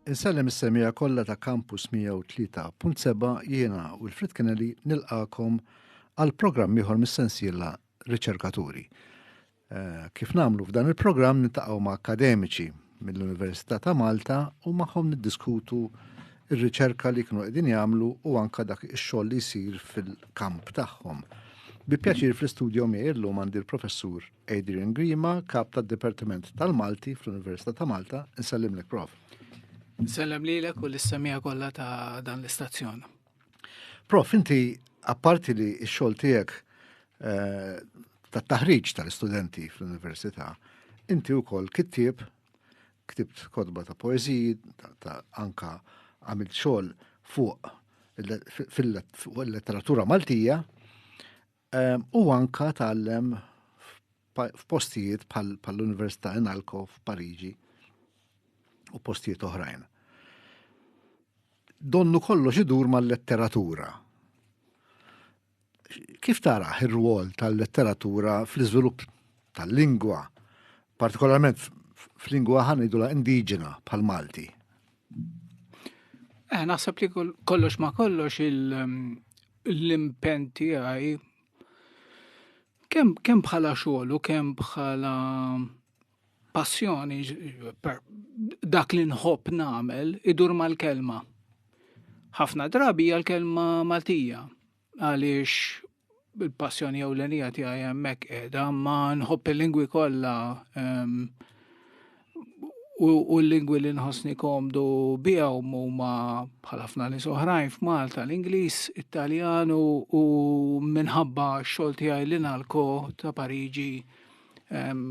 Insellem is-semija kollha ta' Campus 103.7 jiena u l-Frit Kennedy nilqakom għal programm ieħor mis-sensiela Riċerkaturi. Eh, kif namlu f'dan il-programm nintaqgħu ma' akademiċi mill-Università ta' Malta u magħhom niddiskutu ir-riċerka li kienu qegħdin jagħmlu u anka dak ix-xogħol li jsir fil-kamp tagħhom. Bi pjaċir fl-istudju miegħi llum għandi l-professur Adrian Grima, kap tad Dipartiment tal-Malti fl-Università ta' Malta, nsellimlek prof. Nsellem lilek u l-issemija kollha ta' dan l-istazzjon. Prof, inti apparti li x-xogħol tiegħek eh, ta' taħriġ tal-istudenti fl-università, inti wkoll kittib, ktibt kodba ta' poeziji, ta' anka għamilt xogħol fuq fil-letteratura Maltija, Ehm, u anka tgħallem f'postijiet bħall-Università Inalco f'Pariġi u postijiet oħrajn. Donnu kollox idur mal-letteratura. Kif tara ir-rwol tal-letteratura fl-iżvilupp tal-lingwa, partikolarment f'lingwa ħanidula indiġena bħal Malti? Eh, naħseb li kollox ma kollox l-impen tiegħi kemm kem bħala xogħol u kemm bħala passjoni dak li nħobb nagħmel idur mal-kelma. Ħafna drabi hija l-kelma Maltija għaliex il-passjoni ewlenija tiegħi hemmhekk qiegħda, ma nħobb il-lingwi kollha ehm, u l-lingwi li nħossni komdu bihom huma bħal ħafna nies oħrajn f'Malta l-Ingliż, Italjan u minħabba x-xogħol tiegħi li nalko ta' Pariġi ehm,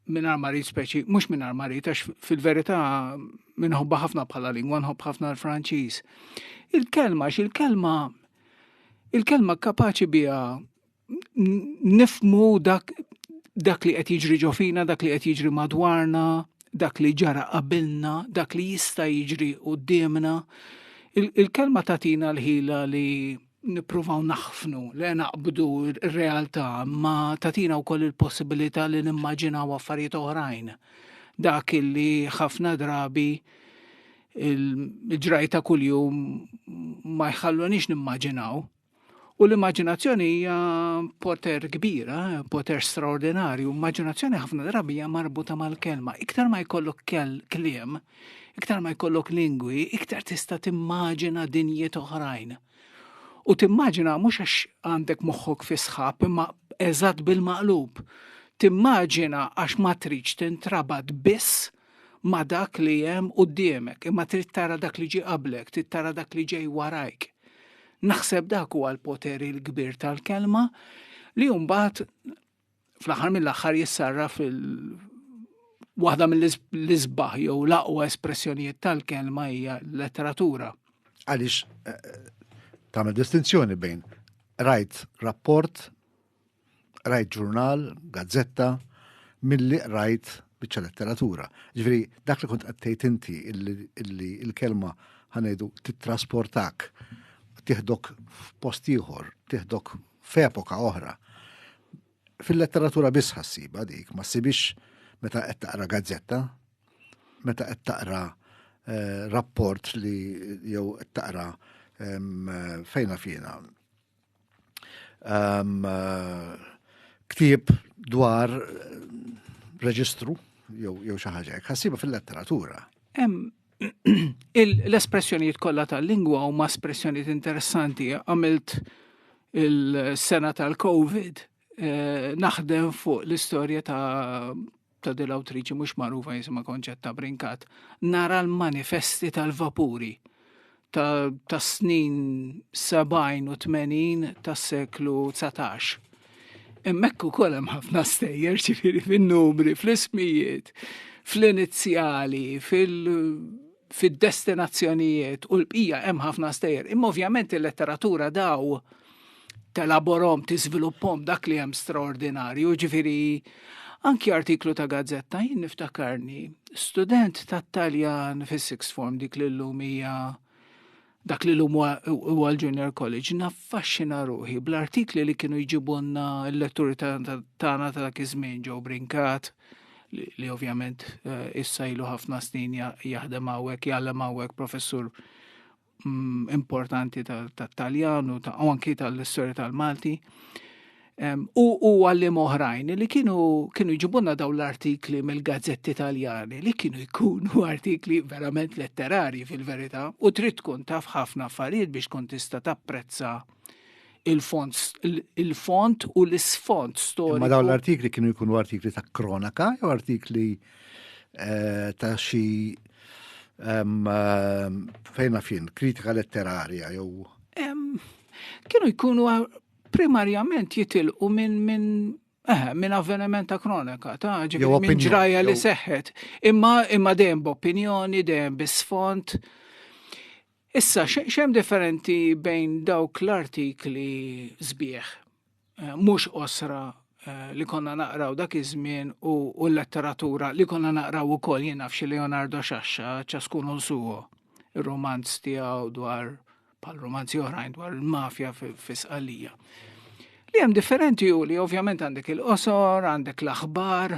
minn armarit speċi, mhux minn armarit għax fil-verità minħobba ħafna bħala lingwa nħobb ħafna l-Franċiż. Il-kelma x'il-kelma Il-kelma kapaċi biha nifmu dak dak li qed jiġri ġo fina, dak li qed jiġri madwarna, dak li ġara qabilna, dak li jista' jiġri quddiemna. Il-kelma tatina l-ħila li nippruvaw naħfnu, li naqbdu r-realtà, ma tatina wkoll il-possibilità li nimmaġinaw affarijiet oħrajn. Dak li ħafna drabi il-ġraj ta' kuljum ma jħallunix nimmaġinaw. U l-immaġinazzjoni hija poter kbira, poter straordinarju. Immaġinazzjoni ħafna drabi hija marbuta mal-kelma. Iktar ma jkollok kliem, iktar ma jkollok lingwi, iktar tista' timmaġina dinjiet oħrajn. U timmaġina mhux għax għandek moħħok fisħab, imma eżatt bil-maqlub. Timmaġina għax ma tridx tintrabat biss ma' dak li hemm quddiemek, imma trid tara dak li ġie qablek, trid tara dak li ġej warajk. Naħseb dak huwa l-poter il-kbir tal-kelma li mbagħad fl-aħħar mill-aħħar jissarra fil waħda mill-isbaħ jew l-aqwa espressjonijiet tal-kelma hija letteratura. Għaliex eh, tagħmel distinzjoni bejn rajt rapport Rajt ġurnal, gazzetta, milli qrajt biċċa letteratura. Ġifieri dak li kont qed tgħid inti illi l-kelma ħanejdu tittrasportak tiħdok f'post ieħor, tiħdok f'epoka oħra. Fil-letteratura biss ħassiba dik, ma ssibix meta qed taqra gazzetta, meta qed taqra eh, rapport li jew qed taqra fejna fina um, uh, ktib dwar eh, reġistru jew jew xi ħaġa hekk ħassiba fil-letteratura. Hemm l-espressjonijiet kollha tal-lingwa huma espressjonijiet interessanti għamilt il-sena tal-COVID eh, naħdem fuq l-istorja ta' ta' dil awtriċi mhux magħrufa jisimha Konċetta Brinkat, nara l-manifesti tal-vapuri ta' snin 70 u 80 tas-seklu 19. Immek ukoll hemm ħafna stejjer ċifiri fin-numri, fl-ismijiet, fl-inizjali, fil- fid-destinazzjonijiet u l-bqija hemm ħafna stejjer. Imma ovvjament il-letteratura daw telaborom, tiżviluppom dak li hemm straordinarju, ġifiri anki artiklu ta' gazzetta jien niftakarni student ta' Taljan fis-sixth form dik l-lum hija dak li l-lum huwa l-Junior College, naffaxxina ruħi bl-artikli li kienu jġibunna l-letturi tagħna ta' dak iż-żmien ġew brinkat, li ovvjament eh, issa ilu ħafna snin jaħdem hawnhekk, jgħallem hawnhekk professur mm, importanti tat-Taljan u anki tal-istorja tal-Malti. u u għallim oħrajn li kienu kienu jġibunna daw l-artikli mill-gazzetti italjani li kienu jkunu artikli verament letterari fil-verità u trid tkun taf ħafna affarijiet biex tkun tista' tapprezza il-font il-font u l-isfont storiku. Ma daw l-artikli kienu jkunu artikli ta' kronaka jew artikli eh, ta' xi eh, fejna fin kritika letterarja jew kienu jkunu Primarjament jitilqu minn minn Eħe, minn avveniment ta' kronika, ta' ġibri minn ġraja li seħħet. Imma imma dejjem b'opinjoni, dejjem bisfond. Issa, xem differenti bejn dawk l-artikli zbieħ, eh, mhux osra eh, li konna naqraw dak iż-żmien u l-letteratura li konna naqraw ukoll jien nafx Leonardo Xaxxa ċaskun suwo, ir-romanz tiegħu dwar bħal romanzi oħrajn dwar il-mafja fis-qalija. Li hemm differenti u li ovvjament għandek il-qosor, għandek l-aħbar,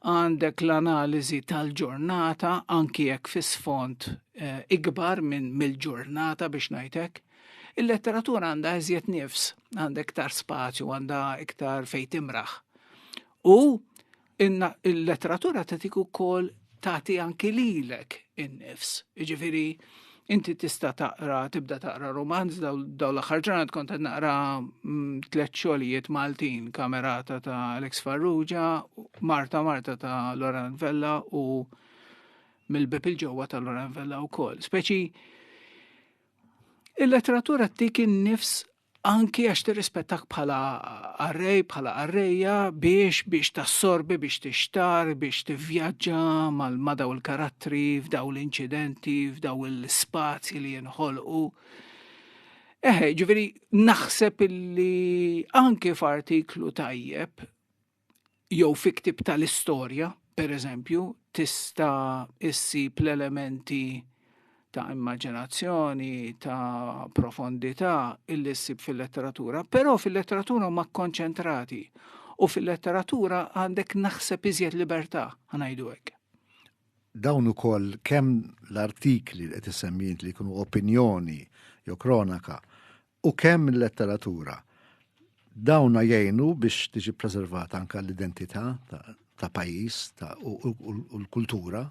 għandek l-analiżi tal-ġurnata, anki jekk fis sfond eh, ikbar minn mill-ġurnata biex ngħidlek. Il-letteratura għandha eżjed nifs, għandha iktar spazju, għandha iktar fejn timraħ. U Inna il-letteratura tatik ukoll tagħti anki lilek in-nifs. Jiġifieri inti tista' taqra, tibda taqra romanz daw l-aħħar ġurnat kont qed naqra mm, tliet xogħlijiet Maltin, Kamerata ta' Alex Farrugia, Marta Marta ta' Loran Vella u mill-bib il-ġewwa ta' Loran Vella wkoll. Speċi il-letteratura tik in-nifs anki għax tirrispettak bħala arrej, bħala arreja biex biex tassorbi, biex tixtar, biex tivvjaġġa mal-madaw il-karattri f'daw l-inċidenti, f'daw l-spazji li jinħolqu. Eħe, ġveri, naħseb illi anki f'artiklu tajjeb jew fi ktieb tal-istorja, pereżempju, tista' issib l-elementi ta' immaġinazzjoni, ta' profondità illi ssib fil-letteratura, però fil-letteratura huma kkonċentrati u fil-letteratura għandek naħseb iżjed libertà, ngħidu hekk. Dawn ukoll kemm l-artikli li qed issemmi li jkunu opinjoni jew kronaka u kemm il-letteratura. Dawna jgħinu biex tiġi preservata anka l-identità ta' pajjiż u l-kultura.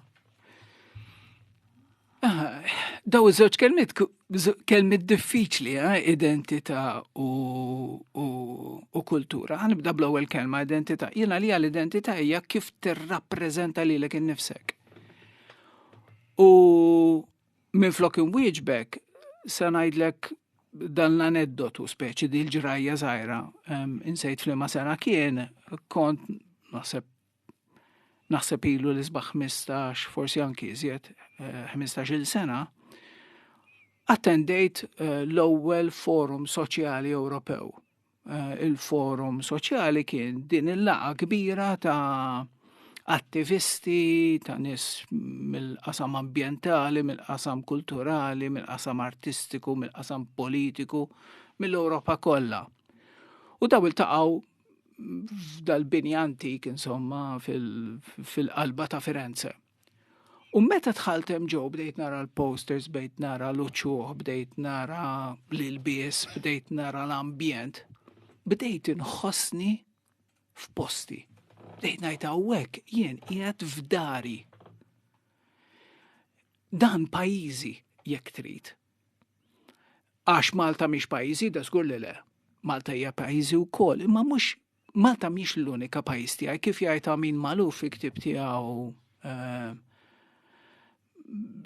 Ah, daw iż-żewġ kelmiet kelmiet diffiċli, eh, identità u kultura. Ħanibda bl-ewwel kelma identità. Jiena li l-identità hija kif tirrappreżenta lilek innifsek. U Minflok inwieġbek, se ngħidlek dan l-aneddotu speċi di l-ġrajja żgħira insejt flima sena kien kont naħseb naħseb ilu l isbaħ 15 forsi anki iżjed 15 eh, sena attendejt eh, l-ewwel forum soċjali Ewropew Eh, il-forum soċjali kien din il-laqa kbira ta' attivisti, ta' nis mill-qasam ambientali, mill-qasam kulturali, mill-qasam artistiku, mill-qasam politiku, mill-Europa kollha. U daw il-taqaw f'dal-bini antik, insomma, fil-qalba ta' Firenze. U meta dħalt hemm ġew bdejt nara l-posters, bdejt nara l-uċuħ, bdejt nara l-ilbies, bdejt nara l-ambjent, bdejt inħossni f'posti. Bdejt ngħid hawnhekk jien qiegħed f'dari. Dan pajjiżi jekk trid. Għax Malta mhix pajjiżi, da żgur li le. Malta hija pajjiżi wkoll, imma mhux Malta mhix l-unika pajjiż tiegħi kif jgħid Amin Maluf fi ktieb tiegħu eh,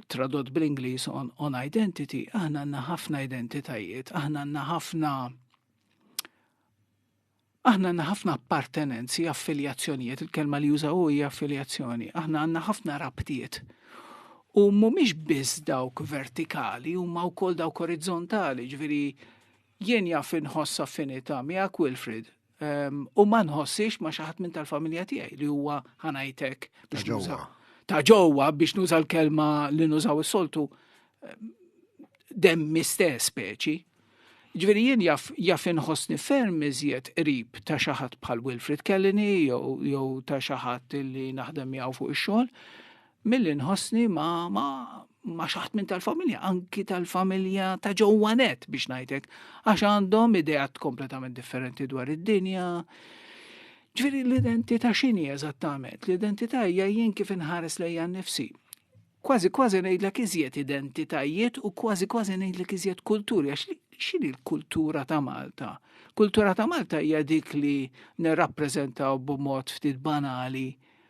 tradott bl-Ingliż on, on identity, aħna għandna ħafna identitajiet, aħna għandna ħafna aħna għandna ħafna appartenenzi, affiljazzjonijiet, il-kelma li jużaw hija affiljazzjoni, aħna għandna ħafna rabtiet. U mhumiex biss dawk vertikali, huma wkoll dawk orizzontali, ġviri Jien jaf inħoss affinità miegħek Wilfrid, u ma nħossix ma xi ħadd minn tal-familja tiegħi li huwa ħanajtek biex nuża ta' ġewwa biex nuża l-kelma li nużaw is-soltu demmi stess speċi. Ġviri jien jaf, jaf inħossni ferm iżjed qrib ta' xaħat bħal Wilfred Kellini jew ta' xaħat li naħdem miegħu fuq ix-xogħol. Milli nħossni ma ma ma xaħt minn tal-familja, anki tal-familja ta' ġewwa net biex ngħidlek, għax għandhom ideat kompletament differenti dwar id-dinja. Ġifieri l-identità x'inhi eżattament? L-identità hija jien kif inħares lejja nnifsi kważi kważi ngħidlek iżjed identitajiet u kważi kważi ngħidlek iżjed kulturi għax x'inhi l-kultura ta' Malta? Kultura ta' Malta hija dik li nirrappreżentaw b'mod ftit banali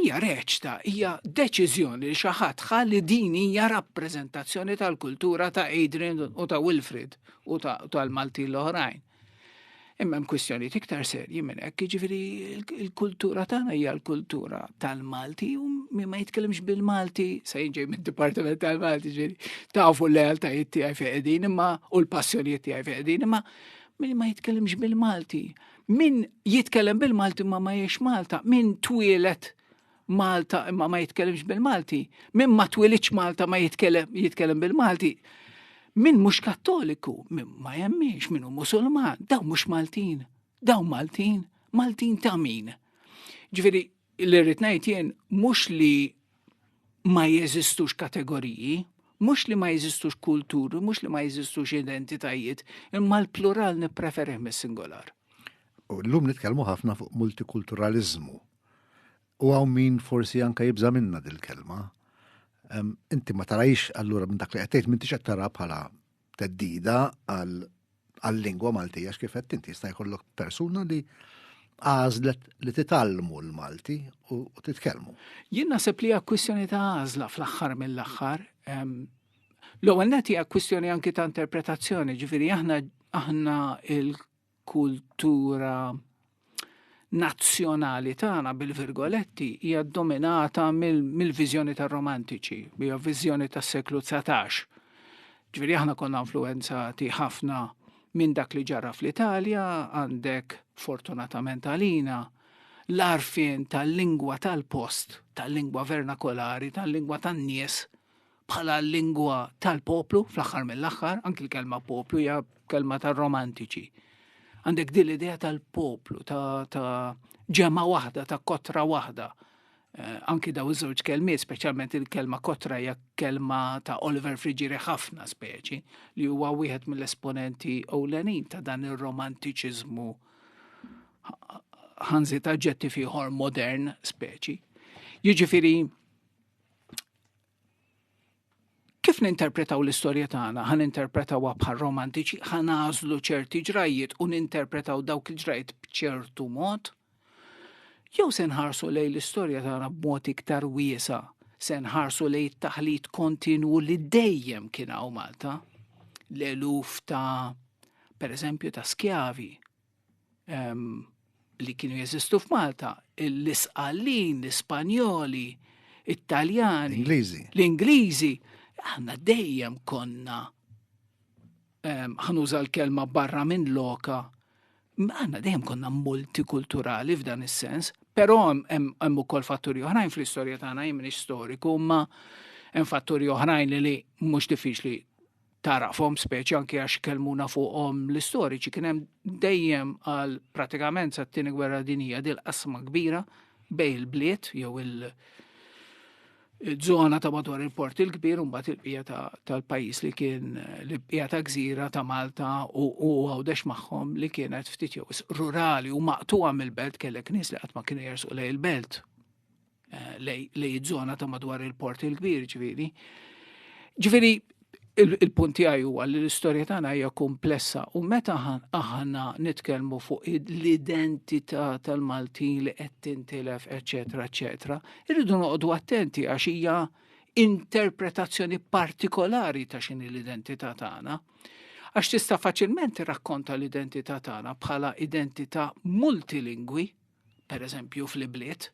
hija reċta, hija deċiżjoni li xi ħadd ħa li din hija rappreżentazzjoni tal-kultura ta' Adrian u ta' Wilfrid u tal-Malti l-oħrajn. Imma hemm kwistjoni iktar serji minn hekk, jiġifieri l-kultura tagħna hija l-kultura tal-Malti u min ma jitkellimx bil-Malti se jinġej mid-Dipartiment tal-Malti ġifieri tafu l-lealtajiet tiegħi feqedin imma u l-passjonijiet tiegħi feqedin imma min ma jitkellimx bil-Malti Min jitkellem bil-Malti ma ma jiex Malta, min twilet Malta imma ma jitkellimx bil-Malti, min ma twilitx Malta ma jitkellem bil-Malti, min mhux kattoliku, min ma jemmiex, min hu musulman, daw mhux Maltin, daw Maltin, Maltin ta' min. Ġifieri Li rrid ngħid jien mhux li ma jeżistux kategoriji, mhux li ma jeżistux kulturi, mhux li ma jeżistux identitajiet, imma l-plural nippreferih mis-singolar. U llum nitkellmu ħafna fuq multikulturaliżmu. U hawn min forsi anka jibża' minna dil-kelma. Inti ma tarajx allura minn dak li qed tgħid m'intix qed tara bħala teddida għal-lingwa Maltija x'kifet inti jista' jkollok persuna li għażlet li titallmu l-Malti u titkellmu. Jien naħseb li hija kwistjoni ta' għażla fl-aħħar mill-aħħar. L-ewwel net hija kwistjoni anki ta' interpretazzjoni, ġifieri aħna aħna kultura nazzjonali tagħna bil-virgoletti hija dominata mill-viżjoni tar-romantiċi, hija viżjoni tas-seklu 19. Ġifieri aħna konna influenzati ħafna minn dak li ġara fl-Italja, għandek fortunatament għalina l-arfien tal-lingwa tal-post, tal-lingwa vernakolari, tal-lingwa tan-nies bħala l-lingwa tal-poplu fl-aħħar mill-aħħar, anki l-kelma poplu hija kelma tar-romantiċi. Għandek din l-idea tal-poplu, ta', ta ġema waħda, ta' kotra waħda. Eh, anki daw iż-żewġ kelmi, speċjalment il-kelma kotra hija kelma ta' Oliver Friġiri ħafna speċi, li huwa wieħed mill-esponenti ewlenin ta' dan ir-romantiċiżmu ħanzi ta' ġetti fiħor modern speċi. Jiġifieri Kif ninterpretaw l-istorja tagħna? Ħa ninterpretawha bħal romantiċi, ħa nażlu ċerti ġrajjiet u ninterpretaw dawk il-ġrajjiet b'ċertu mod? Jew se nħarsu lejn l-istorja tagħna b'mod iktar wiesa, se nħarsu lejn it-taħlit kontinwu li dejjem kien hawn Malta, l-eluf ta' pereżempju ta' skjavi li kienu jeżistu f'Malta, l-Isqallin, l-Ispanjoli, it-Taljani, l-Ingliżi. L-Ingliżi, aħna dejjem konna ħanuża l-kelma barra minn loka, aħna dejjem konna multikulturali f'dan is-sens, però hemm ukoll fatturi oħrajn fl-istorja tagħna jien storiku, ma hemm fatturi oħrajn li mhux diffiċli tarafhom speċi anke għax kelmuna fuqhom l-istoriċi kien hemm dejjem għal pratikament sa t-tieni gwerra dinija dil qasma kbira bej il-bliet jew il- Zona ta' madwar il-port il-kbir un bat il-bija tal-pajis li kien l-bija ta' gżira ta' Malta u għawdex maħħom li kienet ftit jew rurali u maqtuwa mill-belt kellek nis li għatma kienu jersu lej il-belt eh, lej iż-żona ta' madwar il-port il-kbir ġifieri. Ġifieri il-punt tiegħi huwa li l-istorja tagħna hija komplessa u meta aħna nitkellmu fuq l-identità tal-Maltin li qed tintilef, eċetera, eċetera, irridu noqogħdu attenti għax hija interpretazzjoni partikolari ta' xini l-identità tagħna. Għax tista' faċilment rakkonta l-identità tagħna bħala identità multilingwi, per eżempju fl-ibliet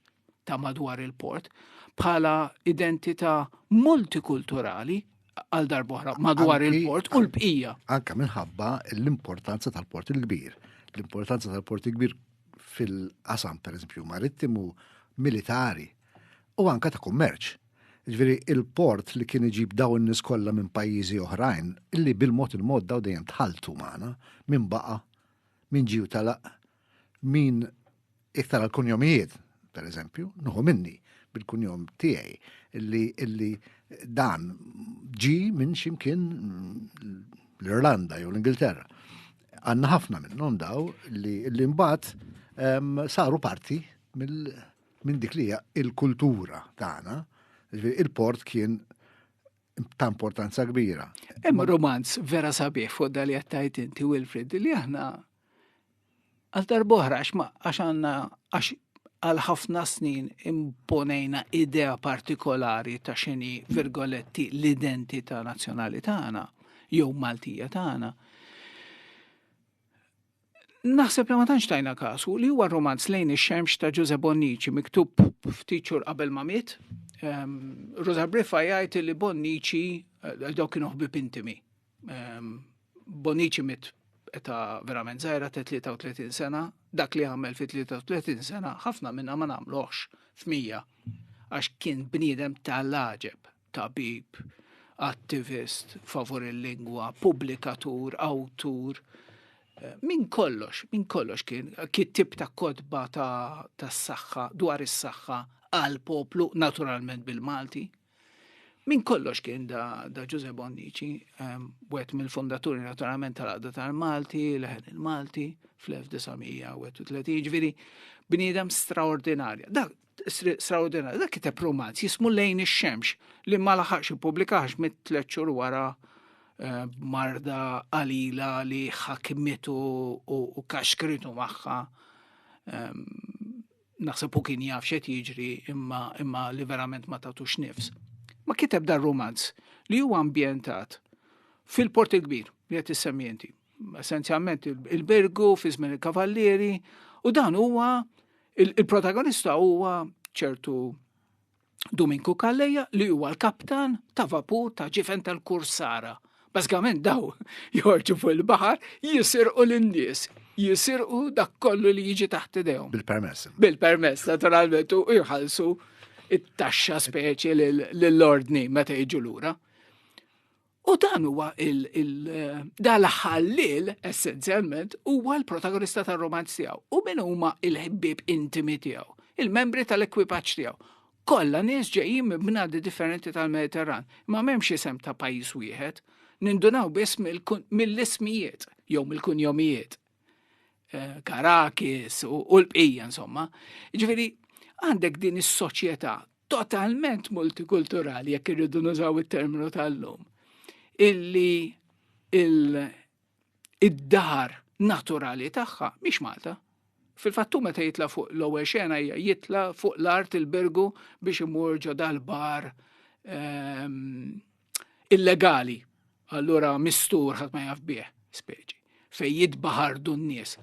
ta' madwar il-port, bħala identità multikulturali għal darbohra madwar il-port u l-bqija. Anka minħabba l-importanza tal-port il-kbir. L-importanza tal-port il-kbir fil-qasam, per eżempju, marittimu, militari u anka ta' kummerċ. Ġveri, il-port li kien iġib daw n kollha minn pajjiżi oħrajn, illi bil-mod il-mod daw dejjem tħaltu magħna, minn baqa, minn ġiju talaq, Min iktar għal kunjomijiet, per eżempju, nuħu minni bil-kunjom tiegħi illi illi dan ġi minn ximkien l-Irlanda jew l-Ingilterra. Għanna ħafna minnhom daw li l-imbat saru parti minn dik li il-kultura tagħna. Il-port kien ta' importanza kbira. Hemm romanz vera sabiħ fuq dal jattajt inti Wilfred li aħna Għal darbohra, għax għanna, għax għal ħafna snin imponejna idea partikolari ta' xini virgoletti l-identità nazzjonali tagħna jew Maltija tagħna. Naħseb li ma tantx tajna kasu li huwa romanz lejn ix-xemx ta' Ġuże Bonnici miktub ftit xhur qabel ma miet. Ehm, Rosa Briffa jgħid li Bonnici eh, dawk kienu ħbib intimi. Ehm, Bonici mit ta' verament zaħira ta' 33 sena, dak li għamel fi 33 sena, ħafna minna ma namluħx f'mija, għax kien bniedem ta' laġeb, tabib, attivist, favur il-lingwa, publikatur, awtur, eh, minn kollox, minn kollox kien kittib ta' kodba ta' s-saxħa, dwar is-saxħa għal poplu, naturalment bil-Malti, Min kollox kien da, da Ġuże Bonnici, ehm, wet mill-fondaturi naturalment tal-għadda tal-Malti, leħen il-Malti, fl-1931, ġviri, bniedem straordinarja. Dak, straordinarja, dak kiteb romanz jismu lejn ix-xemx li ma laħax ippubblikax mit-tlet xhur wara eh, marda qalila li ħakmitu u kaxkritu magħha ehm, naħseb u kien jaf xed jiġri imma, imma li verament ma tatux nifs. Ma kiteb dar romanz li huwa ambjentat fil-port il-kbir li qed issemmienti. Essenzjalment il-Bergu fi żmien il-Kavallieri u dan huwa il-protagonista huwa ċertu Duminku Kalleja li huwa l-kaptan ta' vapur ta' ġifen tal-kursara. Bażikament daw jorġu fuq il-baħar jisirqu lin-nies, jisirqu dak kollu li jiġi taħt idejhom. Bil-permess. Bil-permess, naturalment, u jħallsu it-taxxa speċi lill-ordni meta jiġu lura. U dan huwa dan l-ħallil essenzjalment huwa l-protagonista tar-romanz tiegħu. U min huma il-ħbieb intimi tiegħu, il-membri tal-ekwipaġġ tiegħu. Kollha nies ġejjin minn bnadi differenti tal-Mediterran, ma m'hemmx isem ta' pajjiż wieħed, nindunaw biss mill-ismijiet jew mill-kunjomijiet. Eh, Karakis u l-bqija insomma. Ġifieri għandek din is-soċjetà totalment multikulturali, jekk irridu nużaw it-terminu tal-lum, illi il-dar naturali tagħha mhix Malta. Fil-fattu meta jitla fuq l-ewwel xena hija jitla fuq l-art il-bergu biex imur ġo dal-bar ehm, illegali. Allura mistur ħadd ma jaf bih speċi fejn jitbaħardu n-nies.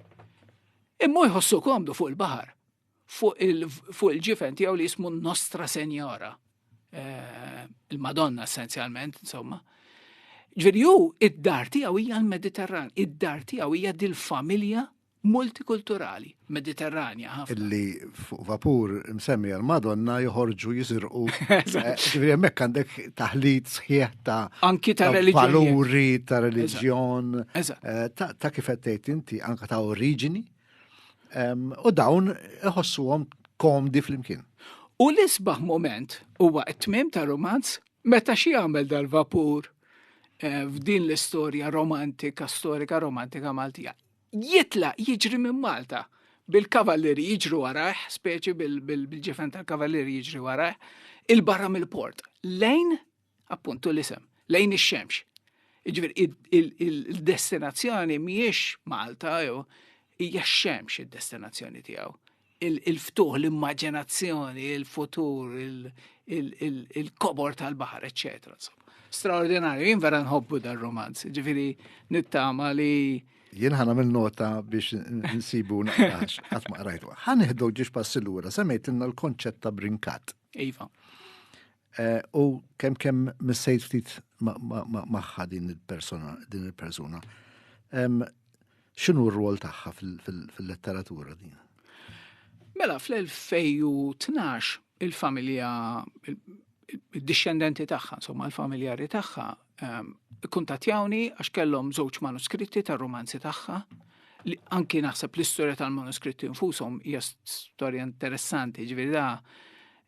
Imma jħossu komdu fuq il-baħar. fuq il-ġifen tiegħu li jismu Nostra Senjora, eh, il-Madonna essenzjalment, insomma. Ġveri ju, id-dar tiegħu hija l-Mediterran, id-dar tiegħu hija dil-familja multikulturali, mediterranja ħafna. Illi fuq vapur msemmi għal-Madonna joħorġu jisirqu. Eh, ġviri jemmek għandek taħlit sħieħ ta' anki ta' religjon. Valuri ta' religjon. Eh, ta' kifettejt inti anka ta' oriġini. U dawn iħossuhom komdi flimkien. U l-isbaħ moment huwa t-tmim ta' romanz meta xi għamel dal-vapur eh, f'din l-istorja romantika, storika romantika Maltija. Jitla jiġri minn Malta bil-kavalleri jiġru warajh, speċi bil-ġifen tal-kavalleri jiġri warajh, il-barra mill-port, lejn appuntu l-isem, lejn ix-xemx. Ġvir, il-destinazzjoni miex Malta, jew hija xemx id-destinazzjoni tiegħu. Il-ftuħ, l-immaġinazzjoni, il-futur, il-kobor tal-baħar, eccetera. Straordinarju, jien vera nħobbu dar romanz ġifiri nittama li jien ħana minn nota biex nsibu naqrax, għat ma qrajtu. ħan iħdu ġiġ passillura, semmejt l-konċett ta' brinkat. Iva. Eh, u kemm kemm missejt ftit magħha din il-persona, din il-persuna. X'inhu r-rwol tagħha fil-letteratura din? Mela fl-2012 il-familja il-discendenti tagħha, insomma l-familjari tagħha Ehm, kuntatjawni għax kellhom żewġ manuskritti tar-romanzi tagħha li anki naħseb l-istorja tal-manuskritti nfushom hija storja interessanti, ġifieri da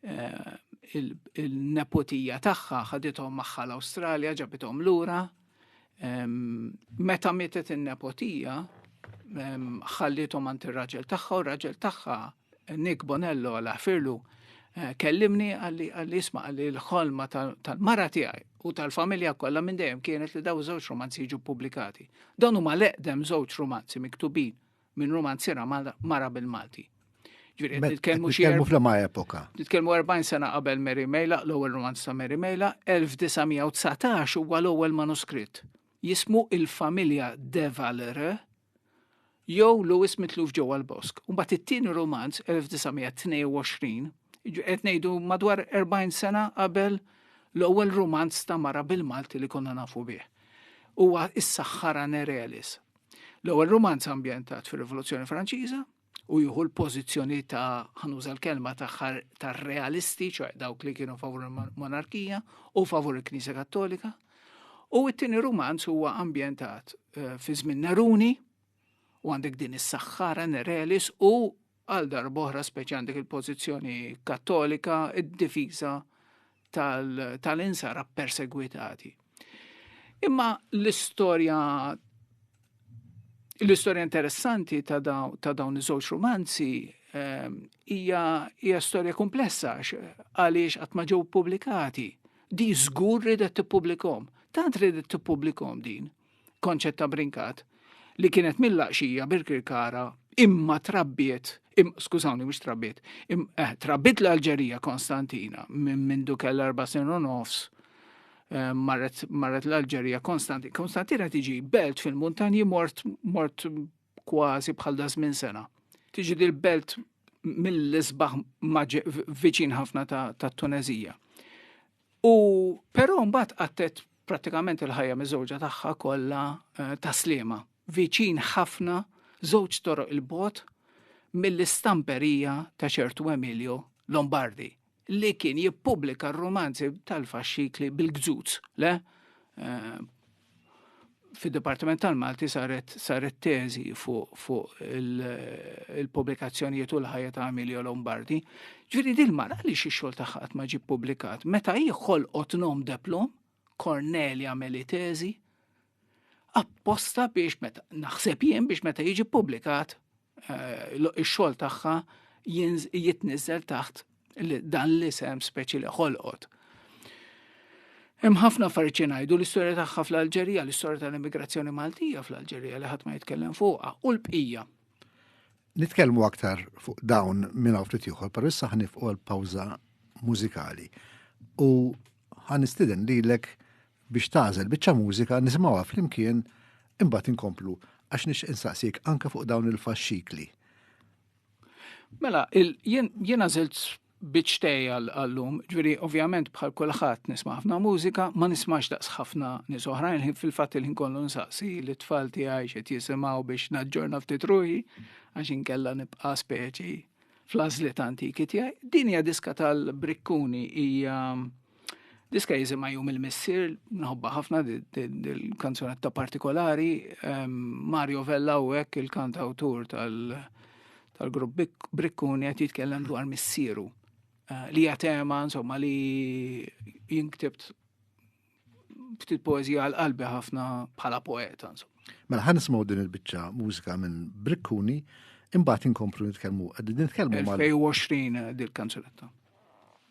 eh, il-nepotija tagħha ħadithom magħha l-Awstralja ġabithom lura. Ehm, meta mietet in-nepotija, ehm, ħallithom għand ir-raġel tagħha u r-raġel tagħha Nick Bonello għal ħfirlu eh, kellimni għalli għalli isma għalli l-ħolma tal-mara tiegħi u tal-familja kollha minn dejjem kienet li daw żewġ romanzi jiġu publikati. Dawn huma leqdem żewġ romanzi miktubin minn romanzira mara bil-Malti. Ġviri, nitkellmu xi. Nitkellmu fl-ma epoka. Nitkellmu 40 sena qabel Mary Mejla, l-ewwel romanz ta' Mary Mejla, 1919 huwa l-ewwel manuskritt. Jismu Il-Familja Devalre, jew Lewis mitluf ġewwa l-bosk. Mbagħad it-tieni romanz 1922, qed ngħidu madwar 40 sena qabel l-ewwel romanz ta' mara bil-Malti li konna nafu bih. Huwa is-Saħħara Nerelis. L-ewwel romanz ambjentat fir-Rivoluzzjoni Franċiża, u jieħu l-pożizzjoni ta' ħanuża l-kelma tagħhar tar-realisti, ċoħ dawk li kienu favur il-monarkija u favur il-Knisja Kattolika. U t-tieni rumanz huwa ambjentat eh, fi żmien Neruni u għandek din is-saħħara Nerelis u għal darboħra speċi għandek il-pożizzjoni kattolika id-difiża tal-insara persegwitati. Imma l-istorja l-istorja interessanti ta' dawn iż-żewġ romanzi ehm, hija hija storja komplessa għaliex qatt ma ġew pubblikati. Di żgur ridet tippubblikom. Tant ridet tippubblikom din Konċetta Brincat, li kienet mill-laqxija Birkirkara imma trabbiet Im, skużawni, mux trabbiet. Im, eh, trabbiet l-Alġerija Konstantina minn min dukel erba sen u nofs eh, marret, marret l-Alġerija Konstantina. Konstantina tiġi belt fil-muntanji mort, mort kważi bħal da żmien sena. Tiġi dil-belt mill-isbaħ viċin ħafna ta' Tunezija. U però mbagħad qattet pratikament il-ħajja miżewġa tagħha kollha eh, ta' slima, viċin ħafna żewġ toroq il-bot mill-istamperija ta' ċertu Emilio Lombardi, li kien jippubblika r-romanzi tal-faxxikli bil-gżuz, le? Eh, Fid-Dipartiment tal-Malti saret saret teżi fuq fu il-pubblikazzjonijiet u l-ħajja ta' Emilio Lombardi. Ġifieri dil mara li xi xogħol tagħha qatt ma ġie ppubblikat, meta hi ħolqot nom deplom, Cornelia Melitesi, apposta biex meta naħseb jien biex meta jiġi publikat eh, ix-xogħol tagħha jitniżel taħt dan l-isem speċi li ħolqot. Hemm ħafna affarijiet ngħidu l-istorja tagħha fl-Alġerija, l-istorja tal-immigrazzjoni Maltija fl-Alġerija li ħadd ma jitkellem fuqha u l-bqija. Nitkellmu aktar fuq dawn minn ftit ieħor, però issa ħanifqu għal pawża mużikali. U ħanistiden lilek biex tażel biċċa mużika nisimgħuha flimkien imbagħad inkomplu għax nix insaqsik anke fuq dawn il-faxxikli. Mela, jiena żilt Biċċ tej għall-lum, ġviri ovvjament bħal kulħadd nisma' ħafna mużika, ma nismax daqs ħafna nies oħrajn, fil-fatt il-ħin kollu nsaqsi li tfal tiegħi x'qed jisimgħu biex naġġorna ftit ruħi, għax inkella nibqa' speċi fl-għażliet antiki tiegħi. Din hija diska tal-Brikkuni hija Diska jizima jum il-missir, nħobba ħafna il-kanzunetta partikolari, ehm, Mario Vella u għek il-kant autur tal-grupp Brikkuni għet jitkellem dwar missiru. Eh, li jatema, insomma, li jinktibt ftit poezija għal-qalbi ħafna bħala poeta, insomma. Mela ħan nismaw din il-bicċa mużika minn Brikkuni, imbagħad inkomplu nitkellmu, qegħdin nitkellmu mal-2020 dil-kanzunetta.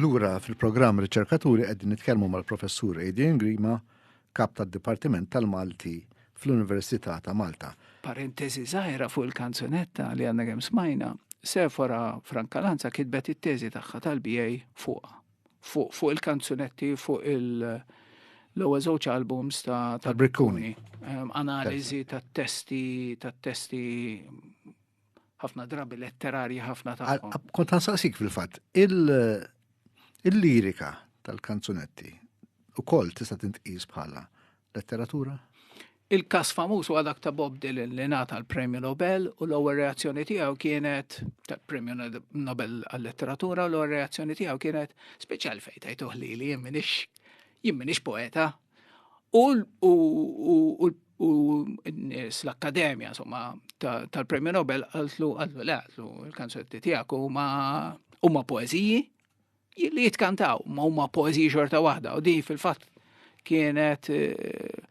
Lura fil-programm Riċerkaturi qegħdin nitkellmu mal-Professur Adrian Grima, kap tad-Dipartiment tal-Malti fl-Università ta' Malta. Parentesi żgħira fuq il-kanzunetta li għandna kemm smajna, Sefora Frankalanza kitbet it-teżi tagħha tal-BA fuqha. Fuq fuq il-kanzunetti fuq il-ewwel żewġ albums ta' Brikkuni. Analiżi tat-testi tat-testi ħafna drabi letterarji ħafna tagħhom. Kont ħansaqsik fil-fatt, il-lirika tal-kanzunetti ukoll tista' tintqis bħala letteratura? Il-kas famuż huwa dak ta' Bob Dylan li nata l-Premju Nobel u l-ewwel reazzjoni tiegħu kienet tal-Premju Nobel għal-letteratura u l-ewwel reazzjoni tiegħu kienet speċjal fejn tajtuh li li jien minix poeta, U n-nies l-Akkademja, insomma, tal-Premju Nobel għaltlu għaltlu le għaltlu il-kanzunetti tiegħek huma huma poeżiji li jitkantaw, ma huma poeżiji xorta waħda u din fil-fatt kienet eh,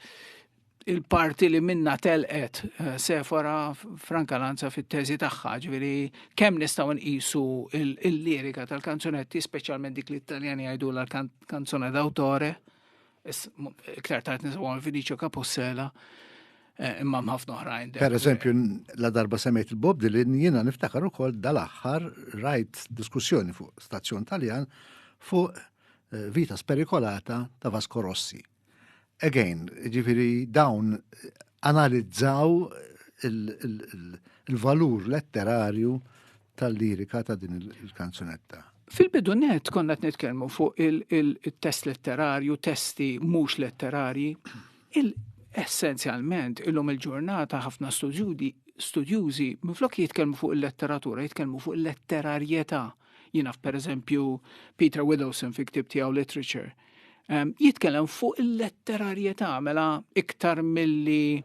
il-parti li minna telqet eh, Sefora Franka Lanza fit-teżi tagħha, ġifieri kemm nistgħu nqisu il-lirika tal-kanzunetti, speċjalment dik li t-Taljani jgħidu l-kanzone d'autore, Iktar tard nisbu għal Vinicio Capossela eh, imma mħafna oħrajn. Per eżempju, la darba semmejt il-Bob Dylan jiena niftakar ukoll dal-aħħar rajt diskussjoni fuq stazzjon Taljan fuq eh, vita sperikolata ta' Vasco Rossi. Again, ġifiri dawn eh, analizzaw il-valur letterarju tal-lirika ta' din il-kanzunetta? Fil-bidu net konna qed nitkellmu fuq il-test letterarju, testi mhux letterarji. Essenzjalment, illum il-ġurnata ħafna studjudi studjużi minflok jitkellmu fuq il-letteratura, jitkellmu fuq il-letterarjetà. Jiena pereżempju Peter Widowson fi ktib tiegħu Literature. Jitkellem fuq il-letterarjetà mela iktar milli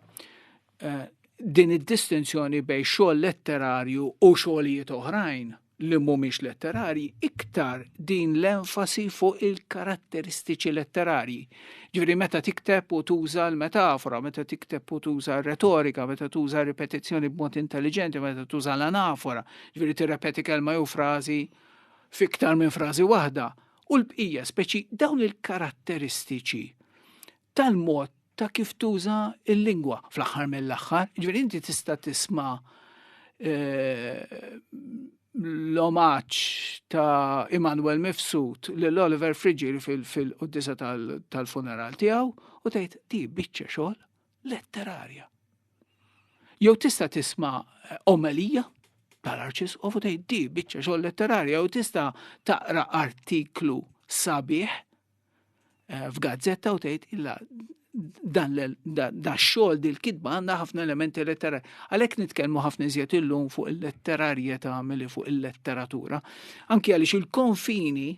Eh, din id-distinzjoni bej xogħol letterarju u xogħlijiet oħrajn li mhumiex letterarji iktar din l-enfasi fuq il-karatteristiċi letterarji. Ġifieri meta tikteb u tuża l-metafora, meta tikteb u tuża r-retorika, meta tuża ripetizzjoni b'mod intelligenti, meta tuża l-anafora, ġifieri tirrepeti kelma jew frażi fiktar minn frażi waħda, u l-bqija speċi dawn il-karatteristiċi tal-mod ta' kif tuża l-lingwa fl-aħħar mill-aħħar. Ġifieri inti tista' tisma' eh, l-omaċ ta' Immanuel Mifsud l Oliver Frigil fil-qoddisa tal-funeral tiegħu u tgħid ti biċċa xogħol letterarja. Jew tista' tisma' eh, omelija tal-arċis u tgħid ti biċċa xogħol letterarja jew tista' taqra artiklu sabiħ eh, f'gazzetta u tgħid illa dan da xogħol dil kitba għandha ħafna elementi letterari. Għalhekk nitkellmu ħafna iżjed illum fuq il-letterarjetà milli fuq il-letteratura. Anki għaliex il-konfini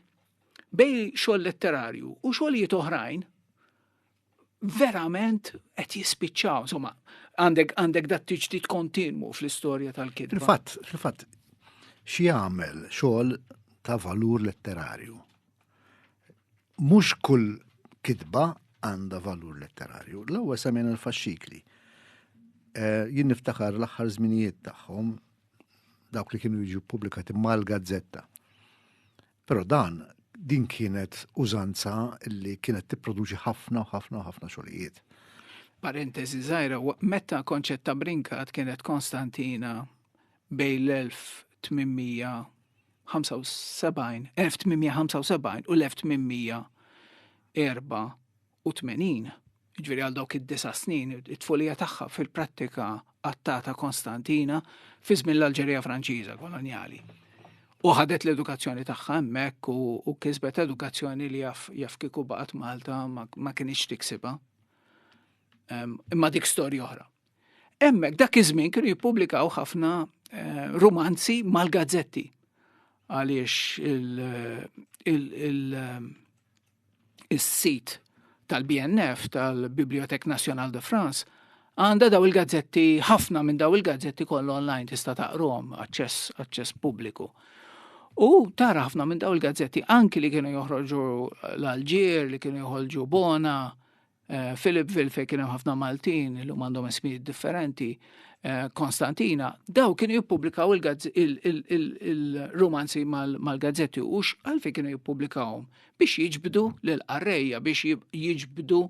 bej xogħol letterarju u xogħlijiet oħrajn verament qed jispiċċaw, insomma, għandek għandek dat tiġdid kontinwu fl-istorja tal-kitba. Fil-fatt, fil-fatt, xi jagħmel xogħol ta' valur letterarju. Mhux kull kitba għandha valur letterarju. L-ewwel semmen il-faxxikli. Eh, jien niftakar l-aħħar żminijiet tagħhom dawk li kienu jiġu pubblikati mal-gazzetta. Però dan din kienet użanza li kienet tipproduċi ħafna u ħafna u ħafna xogħlijiet. Parentesi żgħira, meta konċett ta' brinkat kienet Konstantina bejn l-1800 1875 u l-1874 1980, jiġifieri għal dawk id-disa' snin, it-tfulija tagħha fil-prattika qattata Konstantina fi żmien l-Alġerija Franċiża kolonjali. U ħadet l-edukazzjoni tagħha hemmhekk u kisbet edukazzjoni li jaf jaf kieku baqgħet Malta ma kienx tiksibha. Imma dik storja oħra. Hemmhekk dak iż-żmien kienu jippubblikaw ħafna eh, romanzi mal-gazzetti għaliex il- is-sit tal-BNF, tal-Bibliothèque Nationale de France, għanda daw il-gazzetti, ħafna minn daw il-gazzetti kollu online tista' taqrom, aċċess, aċċess pubbliku. U tara ħafna minn daw il-gazzetti anki li kienu joħroġu l-Alġir, li kienu joħolġu Bona, Eh, Philipville fej kien hemm ħafna Maltin li għandhom ismijiet differenti, eh, Konstantina, daw kienu jippubblikaw il-romanzi mal-gazzetti u għalfej kienu jippubblikawhom biex jiġbdu l-qarrejja, biex jiġbdu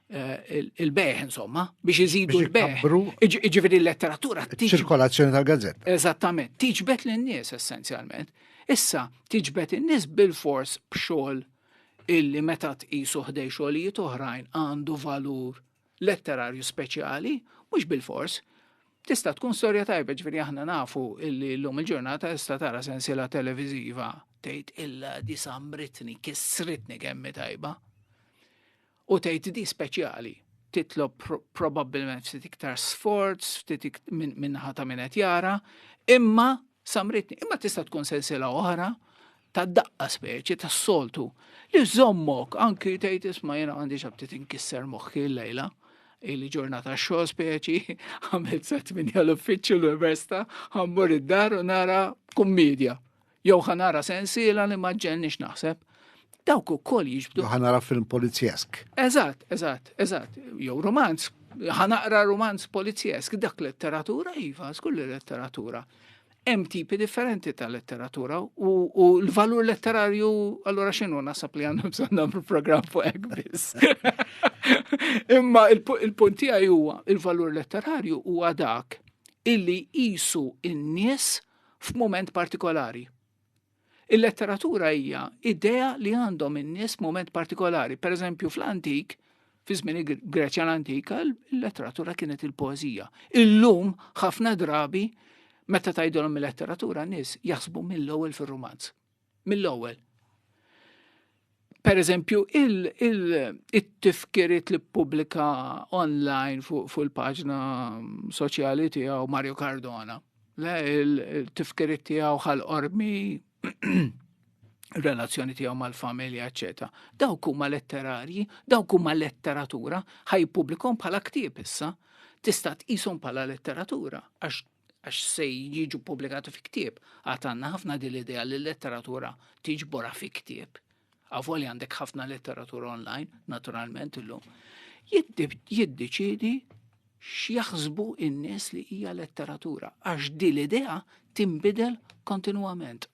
eh, il-beħ, insomma, biex jizidu l-beħ. Iġifiri l-letteratura. Ċirkolazzjoni tal-gazzetta. Eżattament, tiġbet l-nies essenzjalment. Issa, tiġbet l-nies bil-fors bxol illi meta tqisu ħdej xogħlijiet oħrajn għandu valur letterarju speċjali, mhux bil-fors, tista' tkun storja tajba ġifieri aħna nafu illi llum il-ġurnata tista' tara sensiela televiżiva tgħid illa di sambritni, kissritni kemm tajba. U tgħid di speċjali, titlob probabbilment ftit iktar sforz, ftit minnaħa ta' minn qed jara, imma samritni, imma tista' tkun sensila oħra ta' daqqa speċi ta' soltu li zommok anki tgħid isma' jiena għandi xabti tinkisser moħħi l-lejla li ġurnata xo speċi għamilt sa' tminja l-uffiċċju l-università ħammur id-dar u nara kummedja. Jew ħa nara sensiela li ma ġġelniex naħseb. Dawk ukoll jiġbdu. Jew ħa nara film polizjesk. Eżatt, eżatt, eżatt. Jew romanz, ħa naqra romanz polizjesk, dak letteratura iva, skull letteratura hemm tipi differenti ta' letteratura u l-valur letterarju allora xinu nasab li għandhom bżonn nagħmlu programm fuq hekk biss. Imma il-punt tiegħi huwa il-valur letterarju huwa dak illi qisu in-nies il f'mument partikolari. Il-letteratura hija idea li għandhom in-nies f'mument partikolari. Per eżempju, fl-antik, fi żmien il-Greċja l-antika, il-letteratura kienet il-poezija. Illum ħafna drabi meta tgħidilhom il-letteratura nies jaħsbu mill-ewwel fir-rumanz. mill-ewwel. Per eżempju, il-tifkiriet li pubblika online fuq il-paġna soċjali tiegħu Mario Cardona. Le, il-tifkiriet tiegħu ħal-qormi relazzjoni tiegħu mal-familja, eċetera. Dawk huma letterarji, dawk huma letteratura, ħaj publikom bħala ktieb issa, tista' tqishom bħala letteratura għax għax se jiġu publikati fi ktieb, għad għandna ħafna din l-idea li l-letteratura tiġbora fi ktieb. Għavoli għandek ħafna letteratura online, naturalment illum. Jiddeċidi x'jaħsbu in-nies li hija letteratura, għax din l-idea timbidel kontinwament.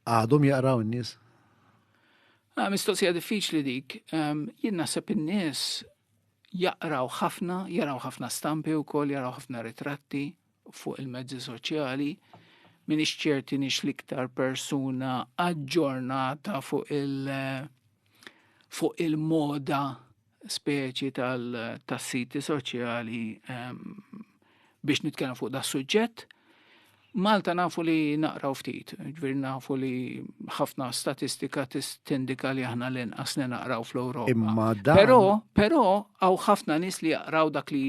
Għadhom jaqraw in-nies? Ah, mistoqsija diffiċli dik. Ehm, jien naħseb in-nies jaqraw ħafna, jaraw ħafna stampi wkoll, jaraw ħafna ritratti fuq il-mezzi soċjali. Min ċerti nix l-iktar persuna aġġornata fuq il- fuq il-moda speċi tal-siti soċjali ehm, biex nitkellem fuq da suġġett. Malta nafu li naqraw ftit, ġviri nafu li ħafna statistika tindika li aħna l-inqas li naqraw fl-Europa. Imma da. Pero, pero, għaw ħafna nis li jaqraw dak li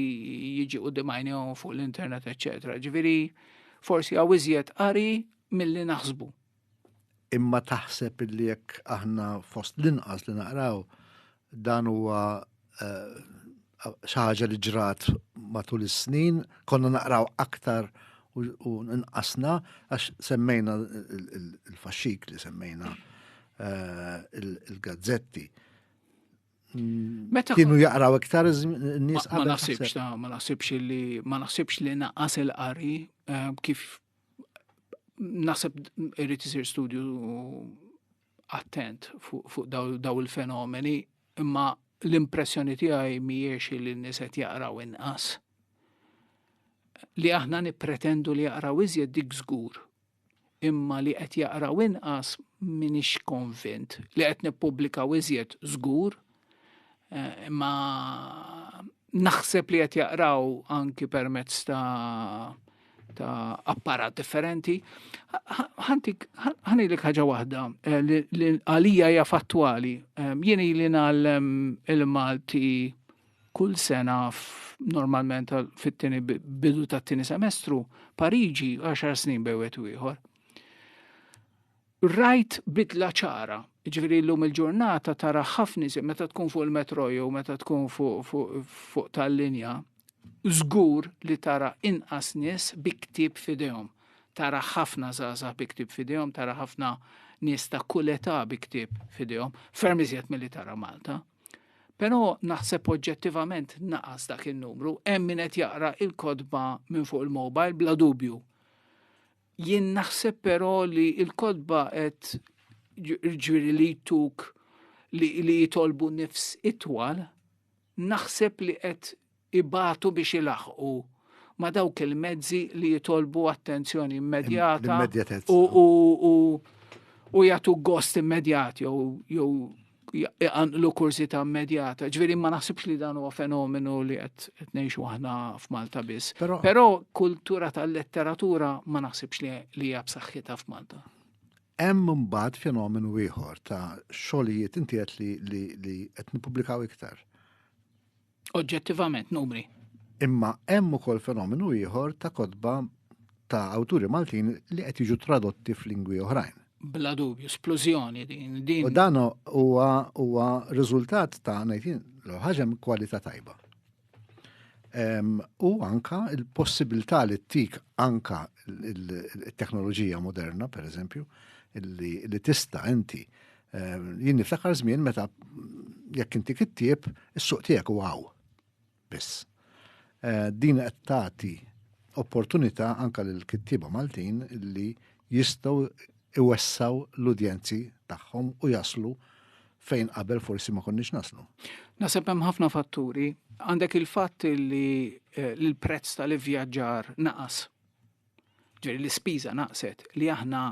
jiġi u dimajnijom fuq l-internet, etc. Ġviri, forsi għaw iżjed qari mill-li naħsbu. Imma taħseb li jekk aħna fost l-inqas li naqraw dan huwa eh, xaħġa li ġrat matul is-snin, konna naqraw aktar u nqasna għax semmejna il-faxxik li semmejna eh, il-gazzetti. Meta kienu jaqraw iktar nies Ma naħsibx ta' ma naħsibx li ma naħsibx li naqas il-qari eh, kif Naseb irrid isir studju attent fuq daw il-fenomeni, imma l-impressjoni tiegħi mhijiex li n-nies qed jaqraw inqas. Li aħna nippretendu li jaqraw iżjed dik żgur, imma li qed jaqraw inqas minix konvint li qed nippubblikaw iżjed żgur Eh, imma naħseb li qed jaqraw anki permezz ta' ta' apparat differenti. Ħantik, ħanilek ħaġa waħda eh, li għalija hija fattwali. Eh, jien li nagħllem il-Malti kull sena normalment fit-tieni bidu tat-tieni semestru Pariġi 10 snin bewet ieħor. Rajt bidla ċara, jiġifieri llum il-ġurnata tara ħafna iżjed meta tkun fuq il-metro jew meta tkun fuq fuq fuq tal-linja, żgur li tara inqas nies bi ktieb f'idejhom. Tara ħafna żgħażagħ bi ktieb f'idejhom, tara ħafna nies ta' kull età bi ktieb f'idejhom, ferm iżjed milli tara Malta. Però naħseb oġġettivament naqas dak in-numru, hemm min qed jaqra il-kotba minn fuq il-mobile bla dubju. Jien naħseb però li l-kotba qed ġviri li jtuk li, li jitolbu nifs itwal, naħseb li qed ibatu biex ilaħqu ma dawk il-mezzi li jitolbu attenzjoni immedjata u, u, u, u jagħtu gost immedjat jew iqanqlu kursi ta' immedjata. Ġveri ma naħsibx li dan huwa fenomenu li qed ngħixu aħna f'Malta biss. Però kultura tal-letteratura ma naħsibx li hija b'saħħitha f'Malta. Hemm mbagħad fenomenu ieħor ta' xogħlijiet inti qed li qed nippubblikaw iktar. Oġġettivament numri. Imma hemm ukoll fenomenu ieħor ta' kotba ta' awturi Maltin li qed jiġu tradotti f'lingwi oħrajn. Bla dubju, splużjoni din. din. U dan huwa huwa riżultat ta' ngħidin l-ħaġem kwalità tajba. U anka il-possibilità li tik anka il-teknoloġija moderna, per eżempju, li tista' inti Jien niftakar żmien meta jekk inti kittieb is-suq tiegħek u għaw. Biss. Eh, din qed tagħti opportunità anke lil kittieba Maltin li jistgħu iwessaw l-udjenzi tagħhom u jaslu fejn qabel forsi ma konniex naslu. Naseb hemm ħafna fatturi, għandek il-fatt li eh, l-prezz tal-ivvjaġġar naqas. Ġeri l-ispiża naqset li aħna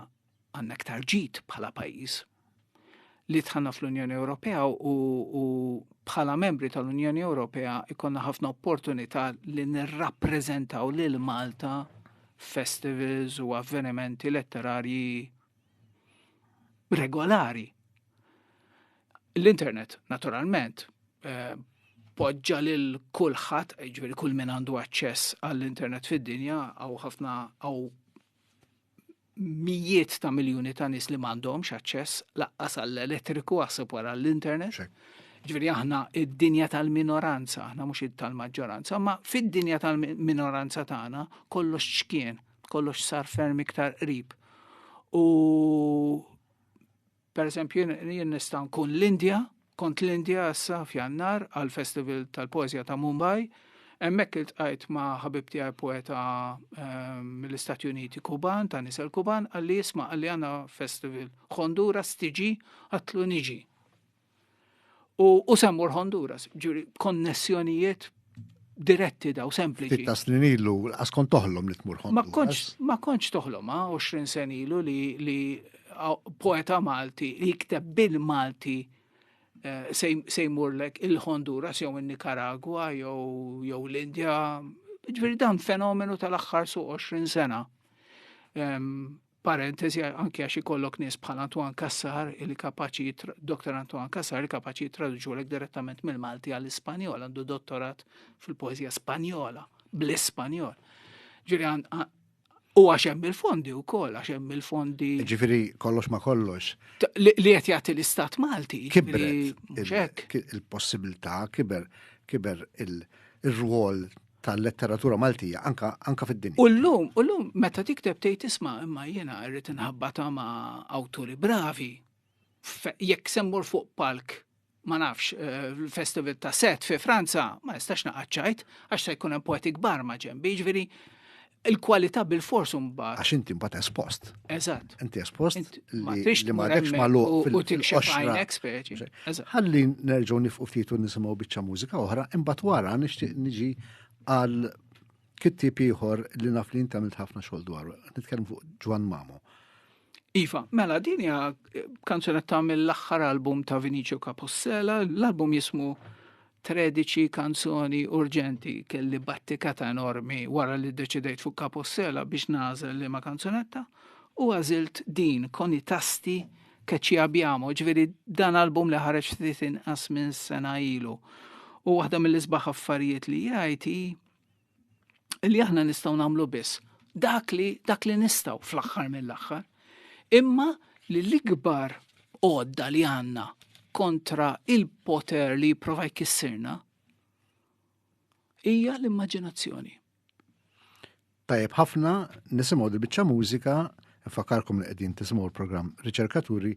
Għandna aktar ġid bħala pajjiż li tħanna fl-Unjoni Ewropea u, u bħala membri tal-Unjoni Ewropea ikonna ħafna opportunità li nirrappreżentaw lil Malta festivals u avvenimenti letterarji regolari. L-internet, naturalment, eh, poġġa lil kulħadd, ġifieri kull min għandu aċċess għall-internet fid-dinja għaw ħafna għaw mijiet ta' miljuni ta' nis li m'għandhomx aċċess laqqas għall-elettriku għasib wara l-internet. Ġveri aħna id-dinja tal-minoranza, aħna mhux tal-maġġoranza, ma fid-dinja tal-minoranza tagħna kollox ċkien, kollox sar ferm iktar qrib. U Per eżempju, jien nista' nkun l-Indja, kont l-Indja issa f'Jannar għal Festival tal-Poezja ta' Mumbai, hemmhekk iltqajt ma' ħabib tiegħi poeta ehm, mill-Istati Uniti Kuban, ta' nisel Kuban, għalli jisma' għalli għandna festival Honduras tiġi għatlu niġi. U semmur Honduras, ġuri, konnessjonijiet diretti daw, sempliċi. Fitta snin ilu, għas kont toħlom li tmur Honduras. Ma konċ toħlom, 20 sen ilu li poeta Malti li jikteb bil-Malti eh, sejmurlek il-Honduras jew il-Nicaragua jew l-Indja. Ġviri dan fenomenu tal-axħar su 20 sena. parentesi anke għax ikollok nies bħal Antoine Cassar li kapaċi Dr. Antoine Cassar li kapaċi jittraduċu lek direttament mill-Malti għall-Ispanjol, għandu dottorat fil-poezija Spanjola, bl-Ispanjol. Ġiri u għax hemm il-fondi wkoll, għax hemm il-fondi. Ġifieri kollox ma kollox. Li qed jagħti l-Istat Malti. Kibret il-possibilità, kiber kiber il-rwol tal-letteratura Maltija anka anka fid-dinja. U llum, u llum meta tikteb tgħid isma' imma jiena rrid inħabbata ma' awturi bravi. Jekk semmur fuq palk ma nafx eh, l-festival ta' set fi Franza, ma nistax naqaċċajt, għax se jkun hemm poeti kbar ma' ġembi, ġviri il-kwalità bil-fors mbagħad. Għax inti mbagħad espost. Eżatt. Inti espost li ma għadekx magħluq fil-qoxra. Ħalli nerġgħu nifqu ftit u nisimgħu biċċa mużika oħra, imbagħad wara nixtieq niġi għal kittib ieħor li naf li inti għamilt ħafna xogħol dwaru. Nitkellem fuq Ġwan Mamo. Iva, mela din hija eh, kanzunetta mill-aħħar album ta' Vinicio Capossela, l-album jismu 13 kanzoni urġenti kelli battikata enormi wara li deċidejt fuq Capossela biex nażel li ma' kanzunetta u għażilt din koni tasti keċi abjamo, ġveri dan album li ħareġ ftit inqas minn sena ilu. U waħda mill-isbaħ affarijiet li jgħid li aħna nistgħu nagħmlu biss dak li dak li nistgħu fl-aħħar mill-aħħar. Imma li l-ikbar għodda li għandna kontra il-poter li jipprova jkissirna hija l-immaġinazzjoni. Tajjeb ħafna nisimgħu dil-biċċa mużika, fakarkom li qegħdin tisimgħu l-programm Riċerkaturi